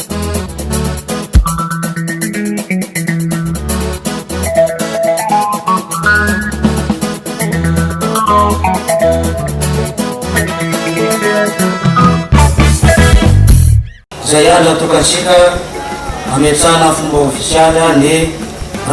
Izay andro atokantsika hametrahana amin'ny fomba ofisialy ny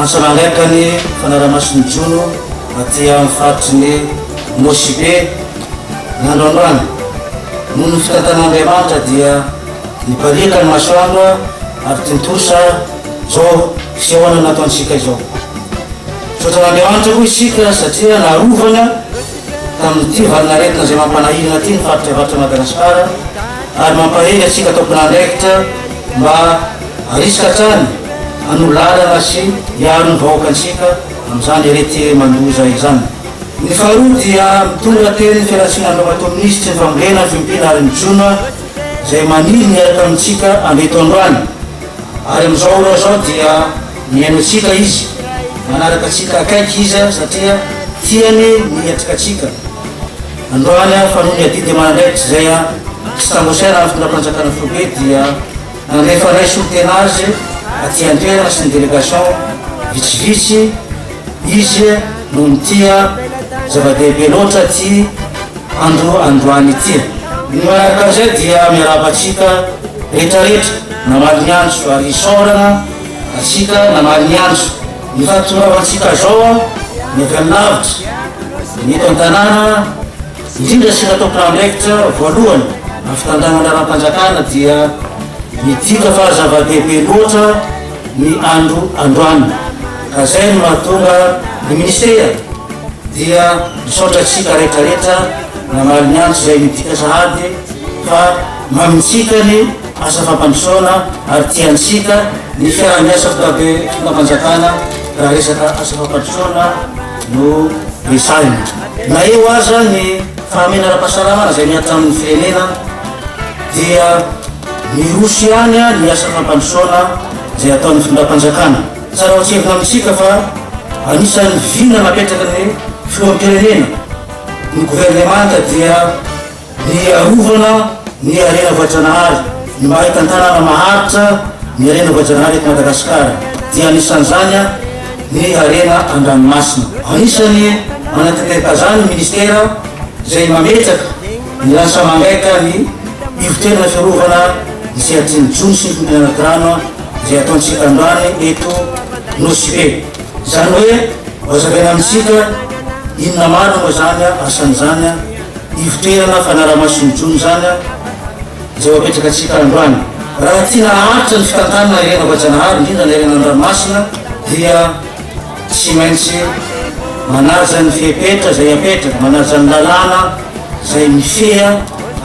antso nangaika ny fanaraha-mason'ny jono aty amin'ny faritry ny Nosy Be ny androandroany. Noho ny fitantanan'Andriamanitra dia Nipariaka ny masoandro ary tontosa izao fisehoana nataontsika izao. Misaotra an'Andriamanitra koa isika satria narovany tamin'ity valin'aretina izay mampanahirana ity ny faritra avaratr'i Madagasikara ary mampahery antsika tompon'andraikitra mba harisika hatrany hanohy lalana sy hiaro ny vahoakantsika amin'izany areti-mandoza izany. Ny faharoa dia mitondra teny fialantsiny androamatoa minisitry ny fambolena, ny fiompiana ary ny jono. izay maniry miaraka amintsika andeto androany, ary amin'izao ora izao dia mihaino antsika Izy, manaraka antsika akaiky Izy satria tiany ny hiatrikatsika androany fa noho ny adidy aman'andraikitra izay tsy tambosaina amin'ny fitondram-panjakana foibe dia nandrefanay solontena azy aty antoerana sy ny délégation vitsivitsy Izy noho ny tia zava-dehibe loatra ity Andro androany ity. Ny manaraka an'izay dia miarahaba antsika rehetra rehetra namaly ny andro ary isaorana antsika namaly ny andro. Ny fahatongavantsika zao ny avy any lavitra, ny eto an-tanàna, indrindra isika tompon'andraikitra voalohany amin'ny fitantanana ara-panjakana dia midika fa zava-dehibe loatra ny andro androany ka zay no mahatonga ny minisitera dia Misaotra antsika rehetra rehetra namaly ny antso izay midika sahady fa mamintsika ny asa fampandrosoana ary tiantsika ny fiaraha-miasa fitondram-panjakana raha resaka asa fampandrosoana no resahina. Na eo aza ny fahamena ara-pahasalamana izay mihatra amin'ny firenena dia miroso ihany ny asa fampandrosoana izay ataon'ny fitondram-panjakana. Tsara ho tsindrina amintsika fa anisan'ny vina napetraky ny Filoham-pirenena, ny Governemanta dia ny hiarovana ny harena voajanahary, ny maha hitantanana maharitra ny harena voajanahary eto Madagasikara dia anisan'izany ny harena an-dranomasina. Anisan'ny manatanteraka izany ny Minisitera izay mametraka ny lasa mangaika ny Ivon-toerana fiarovana ny sehatry ny jono sy ny fonenana anaty rano, Izay ataontsika androany eto Nosy Be. Izany hoe hohazavaina amintsika inona marina moa izany asany izany, ivoteana fanaraha-mason'ny jono izany izay ho apetraka antsika androany. Raha tiana haharitra ny fitantanana ny harena voajanahary, indrindra ny harena an-dranomasina dia tsy maintsy manaja ny fepetra izay apetraka, manaja ny lalàna izay mifehy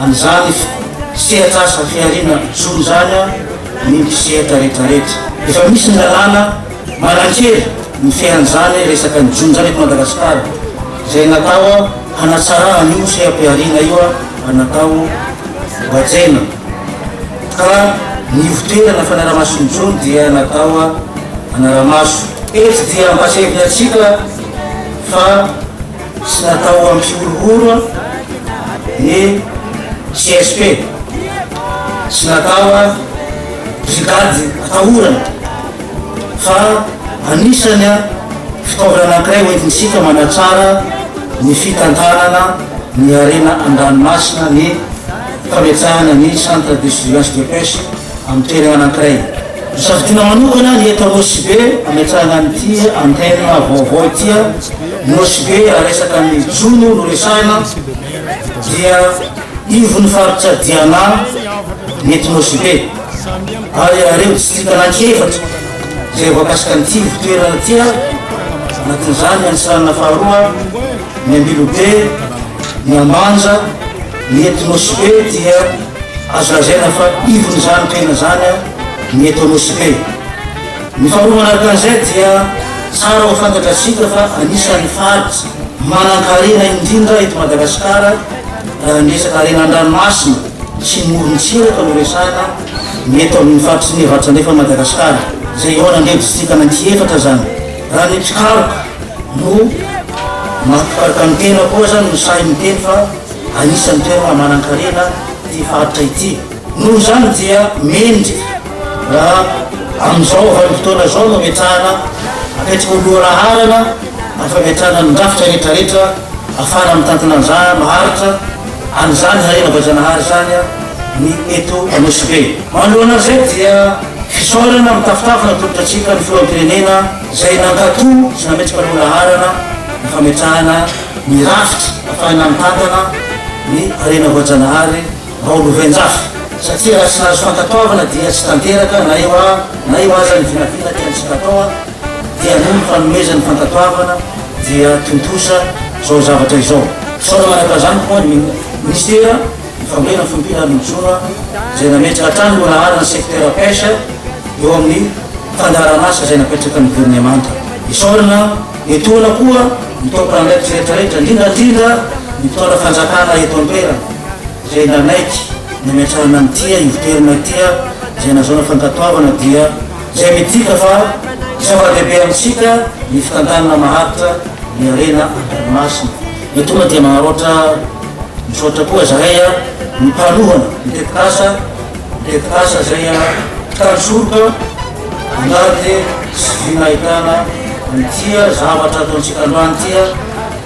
an'izany sehatr'asa fihariana jono izany. noho ny sehatra rehetra rehetra. Efa misy ny lalàna manankery ny fiainan'izany resaka ny jono-izany eto Madagasikara, izay natao hanatsarana an'io seha-pihariana io ary natao hohajaina, ka ny ivotoerana fanaramaso ny jono dia natao hanara-maso. Eto dia ampahatsiahivinantsika fa. Tsy natao hampihorohoro ny CSP, tsy natao brigade atahorana fa anisany fitaovana anankiray hoentintsika manatsara ny fitantanana ny harena an-dranomasina ny fametahana ny centre de surveillance de pêche amin'ny toerana anankiray. Nosafidiana manokana i Eto Nosy-Be hametrahana an'ity antenne vaovao ity. Nosy-Be raha resaka ny jono no resahina dia ivon'ny faritra Diana ny eto Nosy-Be ary ireo distrika anankiefatra izay voakasika an'ity ivon-toerana ity anatin'izany ny Antsiranana faharoa, ny Ambilobe, ny Ambanja, Ny etnospe dia azo lazaina fa ivon'izany tena izany ny etonôspe. Ny faharoa manaraka an'izay dia tsara ho fantatratsika fa anisan'ny faritra manan-karena indrindra eto Madagasikara raha ny resaka harena an-dranomasina sy morontsiraka no resahana ny eto amin'ny faritry ny Avaratra Andrefan'i Madagasikara izay eo anan'ireo distrika ananky efatra izany. Raha ny mpikaroka no maha mpikaroka ny tena koa aza no sahy miteny fa Anisan'ny toerana manan-karena ity faritra ity. Noho izany dia mendrika raha amin'izao vanim-potoana izao no ametrahana apetraka ho lohalaharana ny fametrahana ny drafitra rehetrarehetra ahafahana mitantana an'izany maharitra an'izany harena voajanahary izany ny eto Nosy-Be. Manoloana an'izay dia fisaorana mitafotafo natolotra antsika ny Filoham-pirenena izay nankato sy nametraka lohalaharana ny fametrahana ny rafitra afahana mitantana ny harena voajanahary ao Lovenjafy satria raha tsy nahazo fankatoavana dia tsy tanteraka na eo a na eo aza ny vinavina tiantsika atao a dia noho ny fanomezan'ny fankatoavana dia tontosa izao zavatra izao. Fisaorana araka izany koa ny Minisitera ny Fambolena, ny Fiompiana ary ny Jono izay nametraka hatrany ireo laharana ny secteur pêche eo amin'ny fandaharanasa izay napetraky ny Governemanta. Isaorana. Etoana koa ny tompon'andraikitra rehetra rehetra, indrindra indrindra ny mpitondra fanjakana eto an-toerana, izay nanaiky ny hametrahana an'ity ivon-toerana ity izay nazahoana fankatoavana dia izay midika fa zava-dehibe amintsika ny fitantanana maharitra ny harena an-dranomasina. Etoana dia manaraotra misaotra koa zahay ny mpanohana ny tetikasa. Tetikasa izay an-trano-soroka miaro dia tsy vina ahitana ity zavatra ataontsika androany ity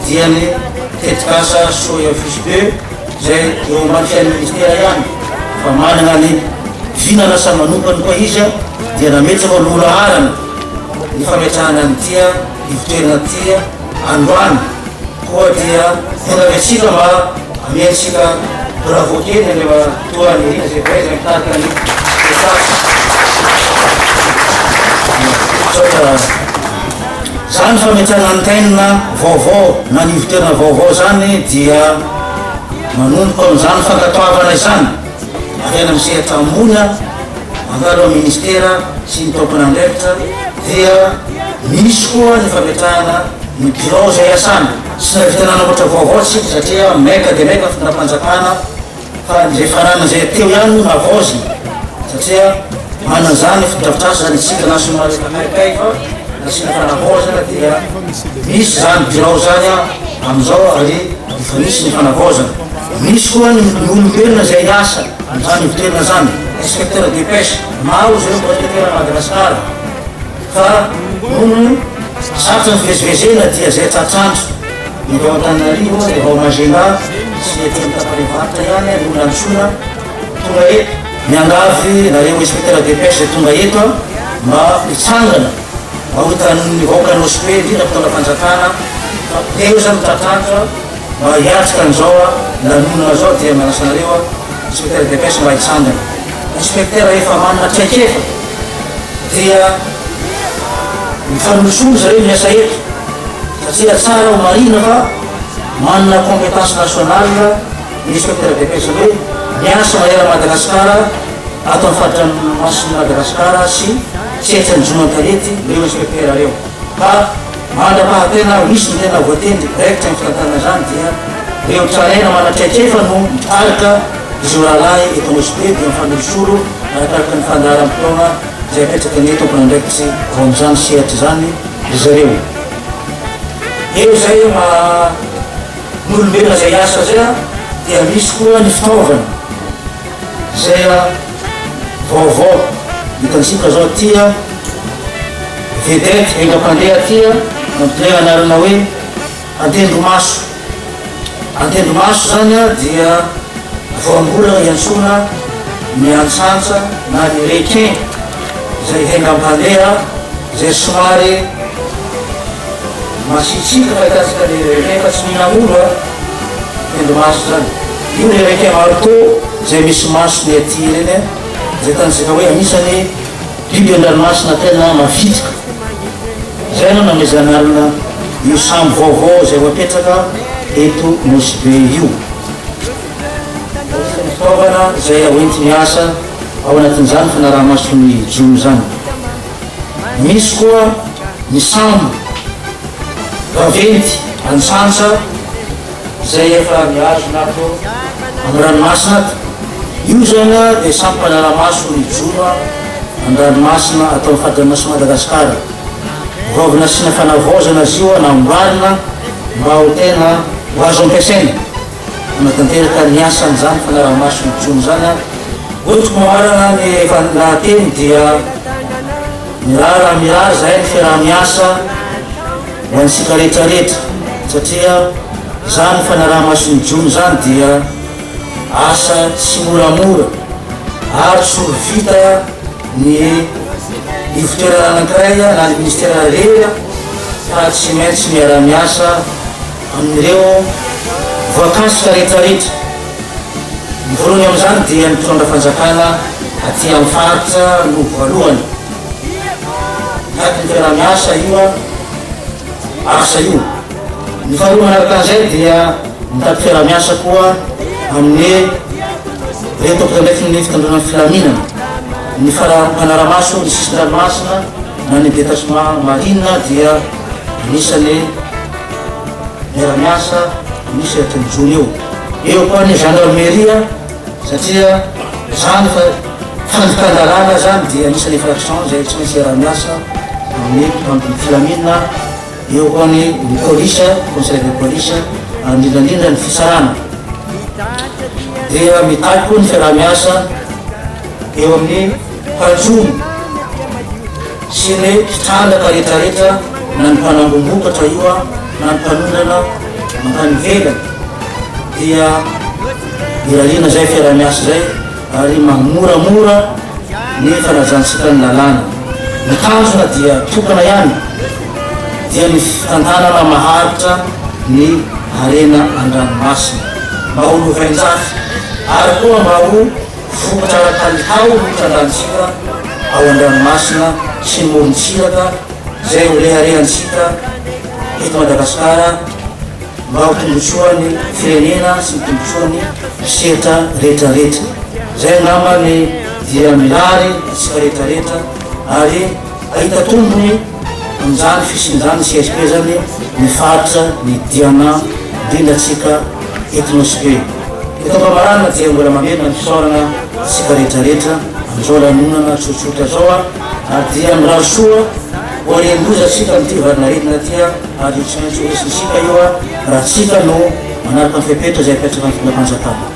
dia ny tetikasa Soy Office Be izay eo ambatin'ny Ministera ihany fa manana ny vina lasa manompany koa izy dia nametraka ho loha laharana ny fametrahana an'ity ivotoerana ity Androany koa dia vonona be isika mba amiantsika bravo kely ny Andriamatoa Nirina izay voay izay mitarika ny spectacle. Misaotra izany fametana antenne vaovao na ny ivon-toerana vaovao izany dia manomboka amin'izany fankatoavana izany. Maraina amin'ny sehatra ambony aho, mandalo amin'ny Ministera sy ny tompon'andraikitra dia misy koa ny fametrahana ny birao izay iasana. Tsy nahavita nanamboatra vaovao isika satria maika dia maika ny fitondram-panjakana fa izay fananana izay teo ihany no navaozina satria manana izany fotodrafitrasa izany isika na somary efa maikay fa nasiana fanavaozana dia misy izany birao izany amin'izao ary Efa nisy ny fanavaozana. Nisy koa ny olombelona izay hiasa amin'izany ivon-toerana izany, inspecteur de pêche. Maro izy ireo mbola eteran'i Madagasikara fa noho ny sarotra ny fivezivezena dia izay tratranjo eto Antananarivo dia vao Majemba sy ety amin'ny tapany avaratra ihany no nantsoina tonga eto. Miangavy anareo inspecteur de pêche izay tonga eto mba hitsangana. Maotanin' ny vahoaka anao Spe indrindra mpitondra fanjakana taiza no tratratra mba hiatrika an'izao a lanonana zao dia manasa anareo a inspecteur de pêche mba hitsangana inspecteur rehefa manana traikefa dia mifanolosono zareo miasa eto satria tsara ho marihina fa manana competence nationale Minisitra am-piadiam-piasana hoe miasa mahery an'i Madagasikara ato amin'ny faridranomasin'i Madagasikara sy tsy etsy anjohon-tanety ireo inspektera ireo ka mandra-pahatena ary misy ny tena voatendry raikitra amin'ny fitantanana izany dia ireo tranaina manana traikefa no mitarika izao rahalahy eto Anosibe dia mifanolosolo arakaraka ny fandaharam-potoana izay apetraka ny tompon'andraikitry ao amin'izany sehatra izany ry zareo. Eo izay ma Nolomena izay asa izay aho dia misy koa ny fitaovana izay vaovao hitantsika izao ity vedette enga-pandeha ity antony anarana hoe antendromaso. Antendromaso izany dia voambolana iantsoana ny antsantsa na ny requin izay enga-pandeha izay somary Masitsiaka mahakasika ny requin fa tsy mihinana omby an! Tendro maso zany. Io le requin marteau izay misy masony aty ireny an! Izay tanjaka hoe anisany biby andranomasina tena mavitrika. Izay no namezan'alona io sambo vaovao izay ho apetraka eto Nosy Be io. Anisan'ny fitaovana izay hoenti-miasa ao anatin'izany fanaraha-mason'ny jono izany. Misy koa ny sambo vaventy antsantsa izay efa mihazona ato amin'ny ranomasina ato. Io izany dia sambo mpanara-maso mijoma an-dranomasina ato amin'ny faridranomasin'i Madagasikara. Vao avy nasiana fanavaozana azy io, namboarina mba ho tena ho azo ampiasaina. Hanatanteraka ny asan'izany fanaraha-maso intsony izany aho. Hoy Mamarana ny lahateny dia mirara miahy izay ny fiaraha-miasa ho antsika rehetra rehetra satria izany fanaraha-maso intsony izany dia asa tsy moramora ary tsy ho vita ny ivotoerana anankiray na ny ministera rehetra fa tsy maintsy miaraha-miasa amin'ireo voakasika rehetrarehetra. Ny voalohany amin'izany dia ny mpitondra fanjakana aty amin'ny faritra no voalohany. Miady ny fiaraha-miasa io asa io. Ny faharoa manaraka an'izay dia mitady fiaraha-miasa koa amin'ny ireo tompon'andraifin'ny fitondrana ny filaminana, ny fara- manara-maso ny sisin-dranomasina na ny détachement marine dia Anisan'ny miara-miasa misy eto ny jono io. Eo koa ny gendarmerie satria izany fa fandikan-dalàna izany dia anisan'ny infraction izay tsy maintsy hiara-miasa amin'ny mpitandro ny filaminana. Eo koa ny ny police, conseil de police, ary indrindra indrindra ny fitsarana. Dia mitaky koa ny fiaraha-miasa eo amin'ny Patrona sy ireo mpitrandraka retraretra na ny mpanangombokatra io an na ny mpanondrana mankany ivelany dia irariana zay fiarahamiasa zay ary mamoramora ny fanajantsikany ny lalàna. Ny tanjona dia tokana ihany dia ny fitantanana maharitra ny harena andranomasina mba ho lovainjafy ary koa mba ho Vokatra ara-kalitao ny fitrandrahantsika ao an-dranomasina sy ny morontsiraka izay ho reharehantsika eto Madagasikara mba ho tombontsoan'ny firenena sy ny tombontsoan'ny mpisehatra rehetrarehetra. Izay angamba ny dia mirary antsika rehetrarehetra ary hahita tombony. Amin'izany fisian'izany CSP izany ny faritra ny Diana indrindra antsika eto Nosy Be. Eto am-pamarana dia mbola mamerina ny fisaorana antsika rehetrarehetra amin'izao lanonana tsotsotra izao ary dia mirary soa ho arian-doza isika amin'ity valin'aretina ity ary io tsy maintsy ho resin'isika io raha tsika no manaraka ny fepetra izay apetrakan'ny Fitondram-panjakana.